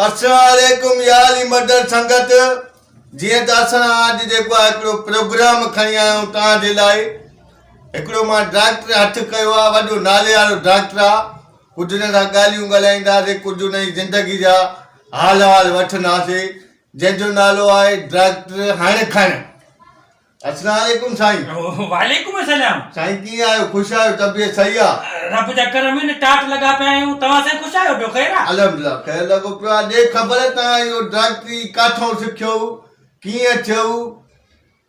السلام عليڪم يا علي مدر سنگت جيئن ته اسان اڄ جيڪو آهي هڪڙو پروگرام کڻي آيا آهيون توهان جي لاء هڪڙو مان ڊاڪٽر هٿ ڪيو آهي وڏو نالي وارو ڊاڪٽر آهي ڪجھ ان سان ڳالهيون ڳالهائينداسين ڪجھ ان جي زندگي جا حال حال وٺنداسين جنهن جو نالو آهي ڊاڪٽر هڻ کڻ السلام عليڪم سائين. وعليڪم السلام. سائين ڪيئن آهيو خوش آهيو طبيعت صحيح آ. رب جا ڪرم آهن ٽاٽ لڳا پيا آهيون توهان سائين خوش آهيو ٻيو خير آ. الحمدلله خير لڳو پيو آ ڏي خبر تان اهو ڊاڪٽري ڪاٿئون سکيو ڪيئن ٿيو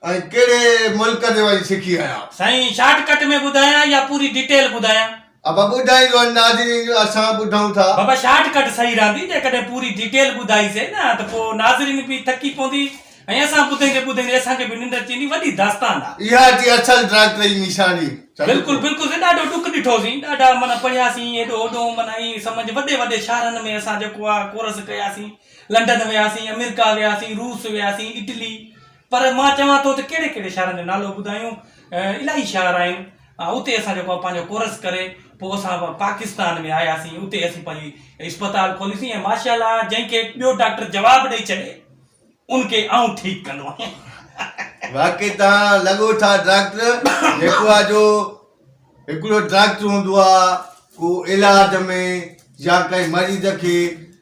۽ ڪهڙي ملڪ ڏي وڃي سکي آيا. سائين شارٽ ڪٽ ۾ ٻڌايان يا پوري ڊيٽيل ٻڌايان. ابا ٻڌائيندو ۽ ناظرين جو اسان ٻڌون ٿا. بابا شارٽ ڪٽ صحيح رھندي جيڪڏھن پوري ڊيٽيل ٻڌائي سين نه ته پو ناظرين به ٿڪي پوندي ۽ اسان ٻڌيندي ٻڌيندي اسان کي به ننڊ اچي ويندي وڏي داستان آ. اها ٿي اصل ڊائريڪٽر جي نشاني. بلڪل بلڪل سين ڏاڍو ڏک ڏٺو سين ڏاڍا معنيٰ پڙھيا سين ھيڏو ھوڏو معنيٰ ائين سمجھ وڏي وڏي شھرن ۾ اسان جيڪو آ ڪورس ڪيا سين لنڊن ويا سين امريڪا ويا سين روس ويا سين اٽلي پر مان چوان ٿو ته ڪهڙي ڪهڙي شهرن جو نالو ٻڌايون الاهي شهر آهن اتي اسان جيڪو آهي پنهنجو ڪورس ڪري پوء اسان پاڪستان ۾ آياسين اتي اسين پنهنجي اسپتال کوليسين ۽ ماشاء الله جنهن کي ٻيو ڊاڪٽر جواب ڏئي ڇڏي ان کي آئون ٺيڪ ڪندو آهيان واقعي توهان لڳو ٿا ڊاڪٽر جيڪو آهي جو هڪڙو ڊاڪٽر هوندو آهي ڪو علاج ۾ يا ڪنهن مريض کي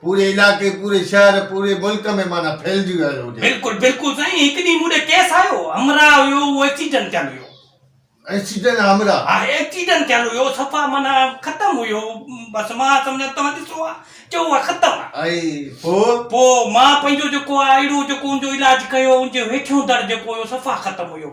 پوري علائقي، پوري شهر، پوري ملڪ ۾ معنيٰ ڦهلجي ويل هجي. بلڪل بلڪل سائين هڪ ڏينهن مون ڏي ڪيس آيو همراه هيو اهو ايڪسيڊنٽ ٿيل هيو. ايڪسيڊنٽ همراه. ها ايڪسيڊنٽ ٿيل هيو صفا معنيٰ ختم هيو بس مان سمجهان توهان ڏسو ها چئو ها ختم ها. ائين پو؟ پو مان پنهنجو جيڪو آهي اهڙو جيڪو ان جو علاج ڪيو ان جو هيٺيون در جيڪو هيو صفا ختم هيو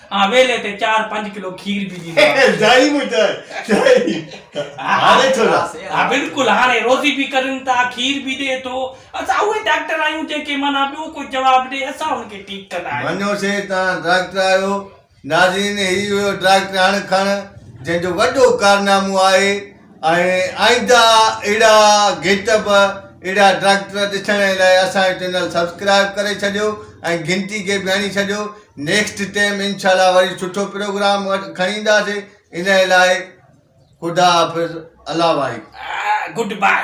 آء ويلي تي چار پنج ڪلو کير به ڏيندو آهيان. دائي مون چاء چائي هاڻي ٿو ڏا. ها بلڪل هاڻي روزي به ڪرين ٿا کير به ڏي ٿو اسان اهي ڊاڪٽر آهيون جنهن کي معنيٰ ٻيو ڪو جواب ڏي اسان ان کي ٺيڪ ڪندا آهيون. مڃيو سي توهان ڊاڪٽر آهيو. ناظرين هي هيو ڊاڪٽر هڻ کڻ جنهن جو وڏو ڪارنامو آهي. ۽ آئنده اھڙا گيت به اھڙا ڊريڪٽر ڏسڻ لاء اسان جو چينل سبسڪرائب ڪري ڇڏيو ۽ گھنٽي کي به ھڻي ڇڏيو نيڪسٽ ٽيم انشاء الله وري سٺو پروگرام کڻي اينداسي ان لاء خدا حافظ الله واري گڊ باء.